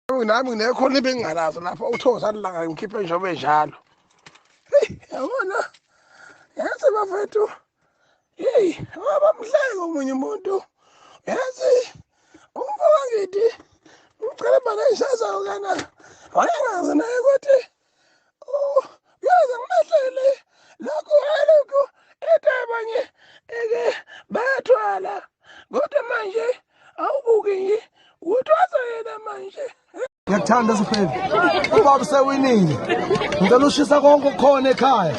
nami nginekhona into engingalazo lapho uthoza lilanga ngikhiphe njengoba enjalo heyi yabona yazi bafethu heyi abamhleke omunye umuntu yazi umfo wangithi umcela bane ishazayo kana wayengazi naye ukuthi yaze ngimahlele lokhu alokhu ethi abanye eke bayathwala kodwa manje awubuki nje uthwasa yena manje ngiyakuthanda sifebe ubaba usewinile ngicela ushisa konke okukhona ekhaya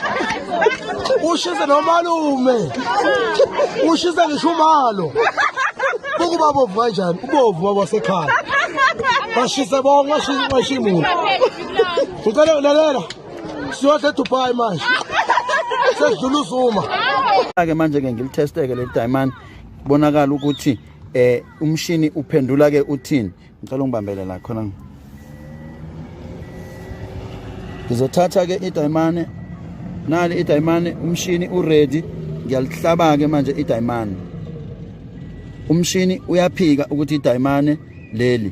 ushise nomalume ushise ngisho umalo ukuba bovu kanjani ubovu wabasekhaya bashise bonke washiya imuntu Ucela ulalela. Siyohle Dubai manje. Sedlula uzuma. Ake manje ke ngilitesteke le diamond bonakala ukuthi eh umshini uphendula ke uthini. Ngicela ungibambele la khona. Ngizothatha ke idayimane nali idayimane umshini uready ngiyalihlaba ke manje idayimane. Umshini uyaphika ukuthi idayimane leli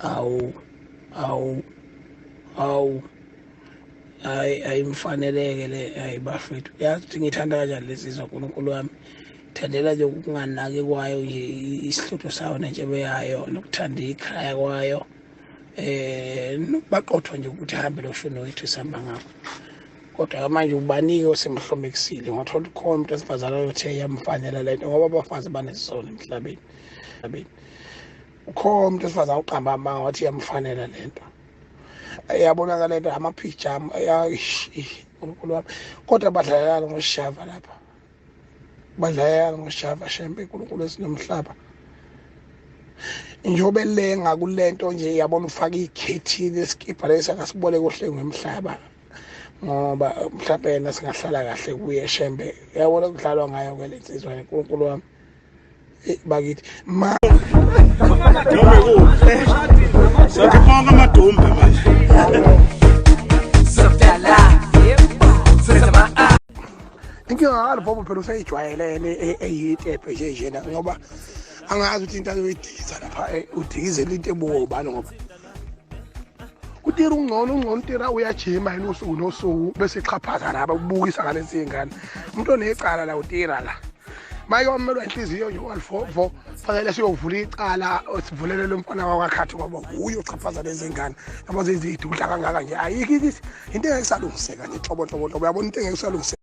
awu awu awu hayi ayimfaneleke le hayi bafethu yazi ukuthi ngithanda kanjani lezi zwa nkulunkulu wami thandela nje ukunganaki kwayo nje isihlutho sayo nentshebe yayo nokuthanda ikhaya kwayo eh baqothwa nje ukuthi hambe lo shuni wethu sihamba ngakho kodwa manje ubanike osemhlomekisile ngathola ukhona umuntu esifazane oyothe yamfanela lento ngoba abafazi banesizona emhlabeni ukhona umuntu esifazane uqamba amanga wathi iyamfanela le nto yabonakala into amaphijama unkulunkulu wami kodwa badlalelani ngoshava lapha badlalelani ngoshava shembe unkulunkulu esinomhlaba njengoba elenga kule nto nje yabona ufaka ikhethini esikibha lesi akasibole kuhle ngomhlaba ngoba mhlawumbe yena singahlala kahle kuye shembe yabona kudlalwa ngayo ke le nsizwa unkulunkulu wami bakithi ma Dumbe kuhle. Sathi bonke amadumbe manje. inkinga ngalo bhobo phela useyijwayelene e- eyitebhe nje njena ngoba angazi ukuthi into ayoyidikisa lapha eh, udikizela into ebuwo ubani ngoba utira ungcono ungcono utira uyajima yini usuku nosuku bese ixhaphaza laba kubukisa ngalezi zingane umuntu onecala la utira la maye wamelwa inhliziyo nje walifofo fanele siyovula icala sivulele lo mfana wakakhathi ngoba wuye uchaphaza lezi ngane ngoba zizidudla kangaka nje ayikho into engeke isalungiseka nje nhlobo nhlobo nhlobo yabona into engeke isalungiseka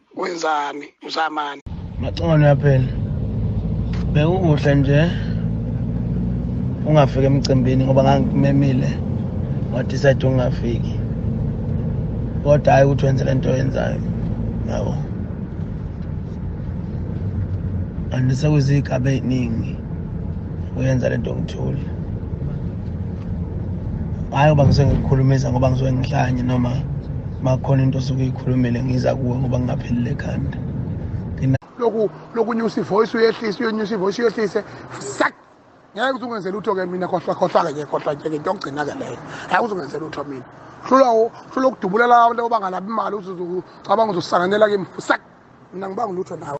wenzani uzamani maxono yaphela bekukuhle nje ungafiki emcimbini ngoba ngangimemile wadecide ungafiki kodwa hhayi ukuthi wenze le nto oyenzayo yabo and sekuziyigaba ey'ningi uyenza le nto ngithule hhayi uba ngisuke ngikukhulumisa ngoba ngisuke ngihlanye noma makhona into osuke uyikhulumile ngiza kuwe ngoba ngingaphelile ekhanda loku lokunyusa ivoice uyehlise uyonyusa ivoice uyehlise sak ngeke uze ungenze lutho ke mina khohlwa khohlwa ke khohlwa ke into okugcina ke leyo ngeke uze ungenze lutho mina hlula hlula ukudubulela abantu obangalabi imali uze ucabanga uzosanganela kimi sak mina ngibanga lutho nawe